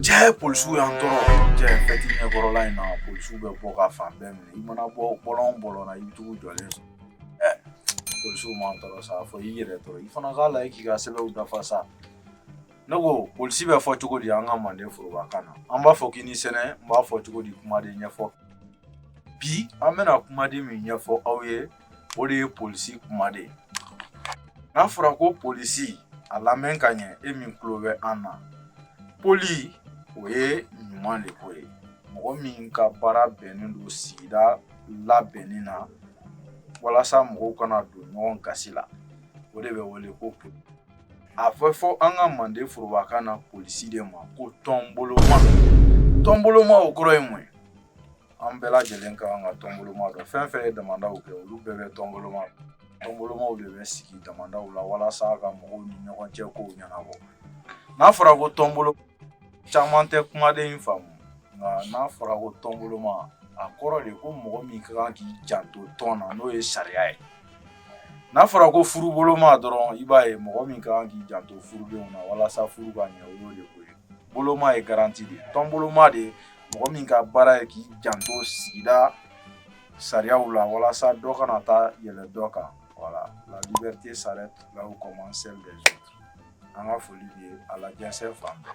Cɛ polisiw y'an tɔɔrɔ cɛ fɛti ɲɛkɔrɔla in na polisiw bɛ bɔ ka fan bɛɛ minɛ i mana bɔ bɔlɔn bɔlɔn na i bɛ t'u jɔlen sɔrɔ ɛ polisiw m'an tɔɔrɔ sa fɔ i yɛrɛ tɔɔrɔ i fana k'a lajɛ k'i ka sɛbɛnw dafa sa ne ko polisi bɛ fɔ cogo di an ka manden forobakan na an b'a fɔ k'i ni sɛnɛ n b'a fɔ cogo di kumaden ɲɛfɔ bi an bɛna kumaden min ɲɛfɔ aw ye o de ye polisi kumaden ye n'a fɔra ko polisi a lamɛn ka ɲɛ e min tulo bɛ an na poli o ye ɲuman de ko ye mɔgɔ min ka baara bɛnnen don sigida labɛnni na walasa mɔgɔw kana don ɲɔgɔn gasi la o de bɛ wele ko poli a bɛ fɔ an ka manden forobakan na polisi de ma ko tɔnboloma tɔnboloma o kɔrɔ ye mun ye an bɛɛ lajɛlen ka kan ka tɔnboloma dɔn fɛn fɛn ye damandaw kɛ olu bɛɛ bɛ tɔnboloma tɔnbolomaw de bɛ sigi damandaw la walasa ka mɔgɔw ni ɲɔgɔn cɛ kow ɲɛnabɔ n'a fɔra ko tɔnbolo caman tɛ kumaden in faamu nka n'a fɔra ko tɔnboloma a kɔrɔ de ko mɔgɔ min ka kan k'i janto tɔn na n'o ye sariya ye n'a fɔra ko furuboloma dɔrɔn i b'a ye mɔgɔ min ka kan k'i janto furudenw na walasa furu ka ɲɛ o y'o de ko ye boloma ye garanti de ye tɔnboloma de mɔgɔ min ka baara ye k'i janto sigida sariyaw la walasa dɔ kana taa yɛlɛ dɔ kan voilà la liberté s'arrête là où commence celle des autres an ka foli b'aw ye a lajɛnsɛn fan bɛɛ